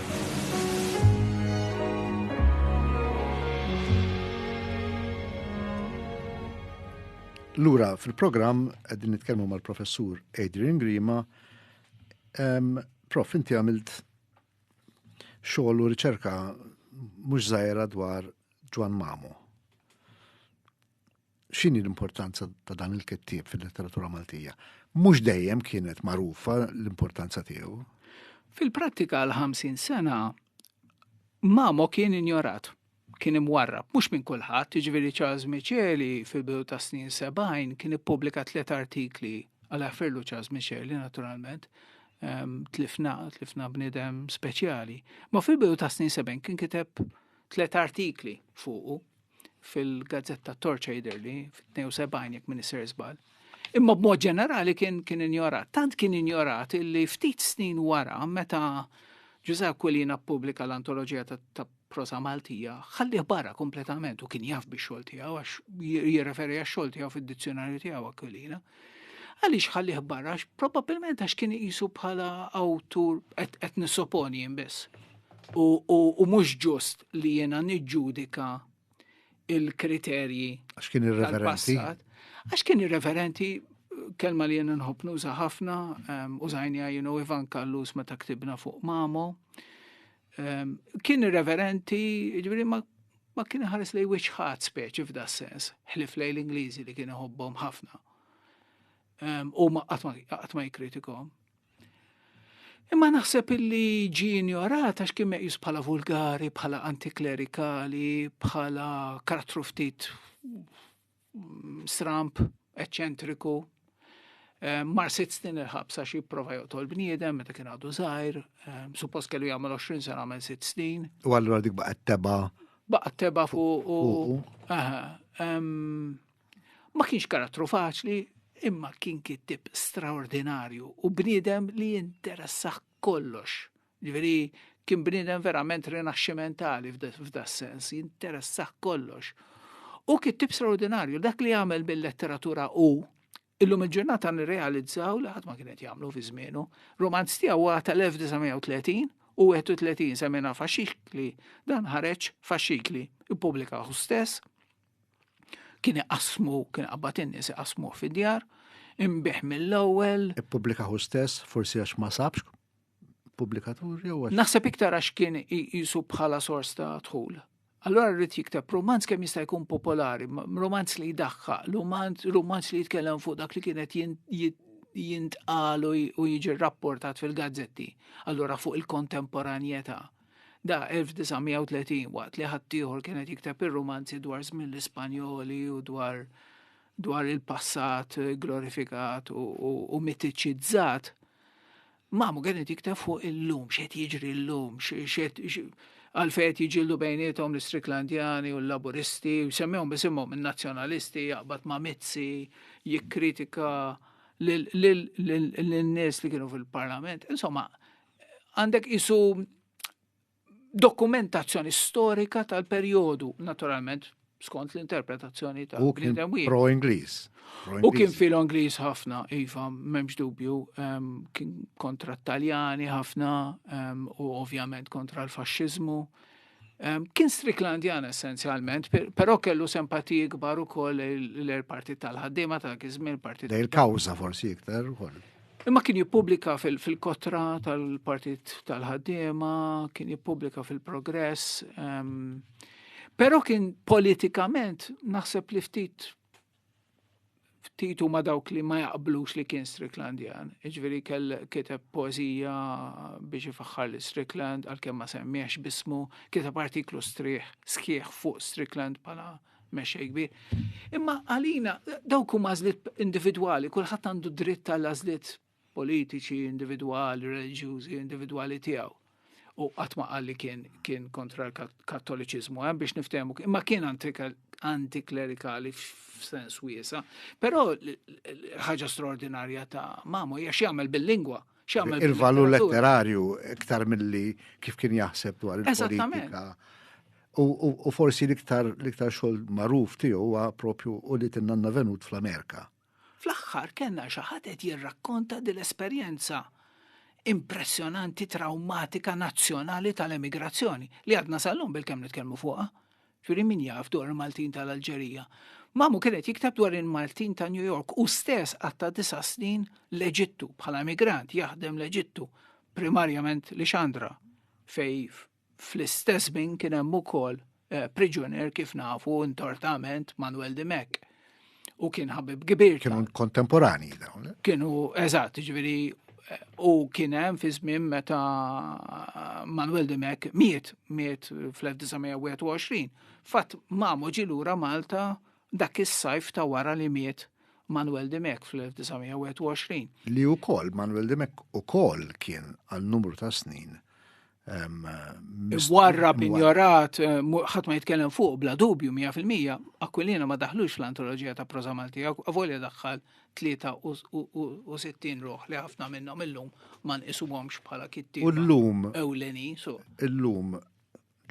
Lura fil-programm qegħdin nitkellmu mal-professur Adrian Grima. Um, prof, inti għamilt xogħol u riċerka mhux żgħira dwar Ġwan Mamu. x'inhi l-importanza ta' dan il-kittieb fil-letteratura Maltija? Mhux dejjem kienet magħrufa l-importanza tiegħu. Fil-prattika għal 50 sena Mamo kien injorat, kien imwarrab, mhux minn kulħadd, jiġifieri Charles Micheli fil-bidu ta' snin 70 kien ippubblika tliet artikli għal afferlu Charles Micheli naturalment, ehm, tlifna, tlifna bnidem speċjali. Ma fil-bidu ta' snin 70 kien kiteb tliet artikli fuqu fil-gazzetta Torch Aiderly fit-72 jekk minn isir żball. Imma b'mod ġenerali kien kien injorat. Tant kien injorat illi ftit snin wara meta Ġuża Aquilina pubblika l-antoloġija ta' prosa Maltija, ħalli barra kompletament u kien jaf biex xogħol tiegħu għax jirreferi għax xogħol tiegħu fid-dizzjonarju tiegħu Aquilina. Għaliex ħallih barra? Probabilment għax kien iqisu bħala awtur qed nisoponi jien biss. U mhux ġust li jiena niġġudika il-kriterji. Għax kien irreverenti. Għax kien irreverenti kelma li jena nħob nuża ħafna, użajni għajnu Ivan Kallus meta ktibna fuq Mamo, Ehm, kien irreverenti, ġifieri ma ma kien ħares lej wiċċ ħadd speċi f'da sens, ħlif lej l-Ingliżi li kien iħobbhom ħafna. Ehm, u ma qatt ma jikritikom. Imma naħseb illi ġi ignorat għax kien meqjus bħala vulgari, bħala antiklerikali, bħala karattru ftit stramp, eċċentriku, eh, mar sitt snin il-ħabsa xi prova joqtol bniedem meta kien għadu żgħir, eh, suppost kellu jagħmel 20 sena għamel sitt snin. U allura dik baqgħet teba. Baqgħet teba fuq u ma kienx karattru faċli, imma kien kittib straordinarju u bniedem li jinteressaħ kollox Ġifieri kien bniedem verament rinaxximentali f'da sens, jinteressah kollox. U kittib straordinarju, dak li għamel bil-letteratura u illum il-ġurnata nirrealizzaw li ħadd ma kienet jagħmlu fi żmienu. Romanz tiegħu huwa tal-1930 u 31 semina faxikli dan ħareġ faxikli ippubblika hu stess kien iqasmu, kien qabad in-nies iqasmu fid-djar, imbieħ mill-ewwel. Ippubblika hu stess, forsi għax ma sabx pubblikatur jew għax. Naħseb iktar għax kien jisu bħala sors ta' dħul. Allora rrid jikteb romanz kemm jista' jkun popolari, romanz li jdaħħa, romanz li jitkellem fuq dak li kienet jintqal u jiġi rapportat fil-gazzetti, allura fuq il-kontemporanjetà. Da 1930 waqt li ħaddieħor kienet jikteb ir-romanzi dwar żmien l-Ispanjoli u dwar dwar il-passat glorifikat u, u, u mitiċizzat, Mamu kienet jikta fuq il-lum, xed jiġri l-lum, xed għalfej qed jiġildu bejnietom l-Istriklandjani u l-Laburisti, u semmihom bisimhom in-Nazzjonalisti jaqbad ma' Mizzi, jikkritika lin-nies li kienu fil-Parlament. Insomma, għandek isu dokumentazzjoni storika tal-perjodu, naturalment, skont l-interpretazzjoni ta' U kien pro Ingliż. U kien filo Ingliż ħafna, iva, memx dubju, ehm, kien kontra t-Taljani ħafna ehm, u ovvjament kontra l-faxxiżmu. Ehm, kien Striklandjan essenzjalment, però kellu sempatiji kbar ukoll l-partit tal-ħaddiema tal-kizmin, partit. Dej il-kawża forsi iktar ukoll. Imma kien jippubblika fil-kotra tal-Partit tal-Ħaddiema, kien jippubblika fil-Progress. Ehm, però kien politikament naħseb li ftit ftit huma dawk li ma jaqblux li kien Stricklandian. Iġveri kell kiteb poezija biex ifaħħar li Strickland għalkemm ma semmiex bismu, kiteb artiklu strieħ sħiħ fuq Strickland pala mexxej kbir. Imma għalina dawk huma għażliet individwali, kulħadd għandu dritt għal għażliet politiċi, individwali, reliġjużi, individwali tiegħu. U qatt ma qal li kien kien kontra l-Kattoliċiżmu hemm eh, biex niftehmu, imma kien antiklerikali f'sens wiesa. Però ħaġa straordinarja ta' mamu hija x'jagħmel bil-lingwa. il-valur letterarju iktar milli kif kien jaħseb dwar il-politika. U forsi l-iktar l-iktar xogħol magħruf tiegħu huwa propju u li tinnanna venut fl-Amerika. Fl-aħħar kellna xi ħadd qed jirrakkonta din l-esperjenza impressjonanti traumatika nazzjonali tal-emigrazzjoni li għadna sal-lum bil-kemm nitkellmu fuqha. Ġuri min jaf dwar il-Maltin tal-Alġerija. Mamu kienet jiktab dwar il-Maltin ta' New York u stess għatta disa snin l-Eġittu bħala migrant jaħdem l-Eġittu, primarjament li xandra, fej fl-istess bin kien hemm ukoll eh, priġunier kif nafu intortament Manuel Dimek. u kien ħabib kbir. Kienu kontemporani dawn. Eh? Kienu, eżatt, ġviri, u kien hemm fi żmien meta eh, Manuel Dimek miet, miet fl-1921. Fatt mamu ġilura Malta dak is-sajf ta' wara li miet Manuel Dimek fl-1921. Li u koll, Manuel Dimek u koll kien għal numru ta' snin Warra pinjorat, eh, ħadd ma jitkellem fuq bla dubju 100%, Aquilina ma daħlux l-antoloġija ta' proza Malti, għavolja daħħal 63 ruħ li ħafna minnhom illum ma nqisuhomx bħala kitti. U llum ewleni, so. Illum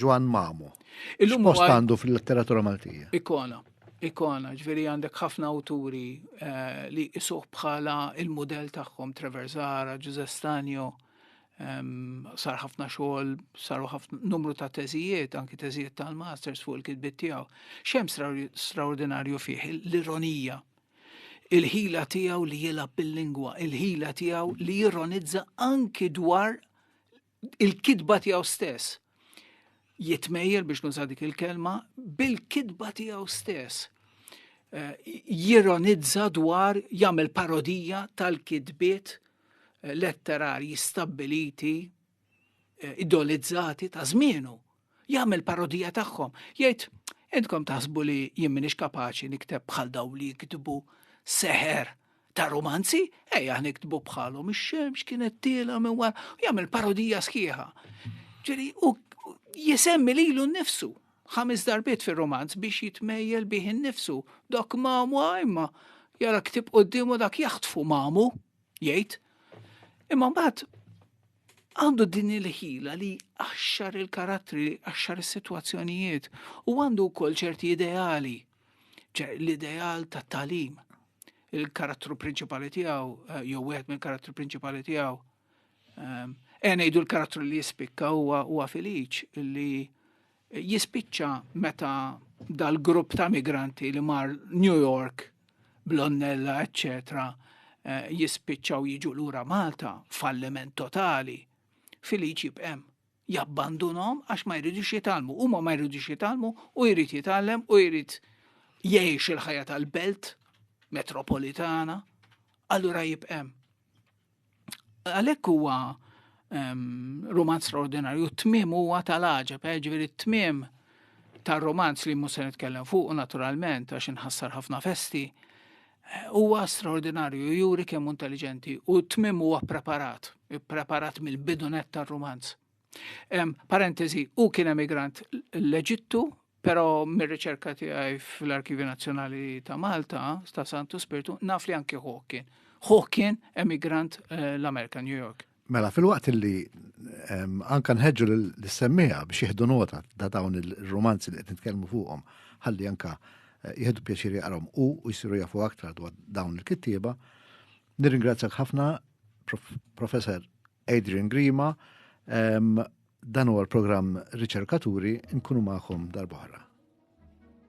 Ġwan Mamu. Illum post għandu fil-letteratura Maltija. Ikona ikona, ġveri għandek ħafna awturi eh, li isuħ bħala il-modell tagħhom Trevor Zara, Giuseppe Stanio, sar ħafna xogħol, saru ħafna numru ta' teżijiet, anki teżijiet tal-masters fuq il-kitbit tiegħu. Xem straordinarju fih l-ironija. Il-ħila tiegħu li jilgħab bil-lingwa, il-ħila tiegħu li jironizza anki dwar il-kitba tiegħu stess. Jitmejjel biex nuża dik il-kelma bil-kitba tiegħu stess. Eh, jironizza dwar jagħmel parodija tal-kitbiet letterarji stabbiliti eh, idolizzati ta' żmienu. Jagħmel parodija tagħhom. Jgħid, intkom taħsbu li jien minix kapaċi nikteb bħal daw li jiktbu seħer ta' romanzi, ejja niktbu bħalhom ix-xemx kienet tiela minn wara, jagħmel parodija sħiħa. Ġiri, u jisemmi lilu nnifsu ħames darbiet fir-romanz biex jitmejjel bih innifsu. Dak mamu imma jara ktib qoddimu dak jaħtfu mamu, jgħid. Imma mbagħad għandu din il-ħila li għaxxar il-karattri, għaxxar is-sitwazzjonijiet u għandu wkoll ċerti ideali, l-ideal ta' talim. Il-karattru prinċipali tiegħu eh, jew wieħed mill-karattru prinċipali tiegħu E ngħidu l-karattru li jispikka huwa huwa filiċ li jispiċċa meta dal-grupp ta' migranti li mar New York, Blonnella, eccetera, eh, jispiċċaw jiġu lura Malta, falliment totali, filiċ jibqem jabbandunom għax ma jridux jitalmu, huma ma jridux jitalmu u jrid jitallem u jrid jgħix il-ħajja tal-belt metropolitana, allura jibqem. Għalhekk huwa ehm, romanz straordinarju, t-tmiem huwa tal-għaġeb, eh, ġifieri t-tmiem tar-romanz li mhux se nitkellem fuq naturalment għax inħassar ħafna festi, eh, huwa straordinarju, juri kemm intelligenti u t-tmiem huwa preparat, preparat mill-bidunet tar-romanz. Parentesi, u kien emigrant l-Eġittu, pero mir-riċerka tiegħi fl-Arkivju Nazzjonali ta' Malta, ta' Santu Spirtu, naf li anki ħuħ kien. Ħuħ kien emigrant eh, l-Amerika, New York. Mela, fil-waqt li anka nħedġu l-semmija biex jihdu nota da dawn il-romanzi li qed nitkellmu fuqhom, ħalli anka eh, jihdu pjaċiri jaqrom u jisiru jafu aktar dwar dawn il-kittieba. Nirringrazzjak ħafna, professor Adrian Grima, dan huwa l-programm Riċerkaturi nkunu magħkom darb'oħra.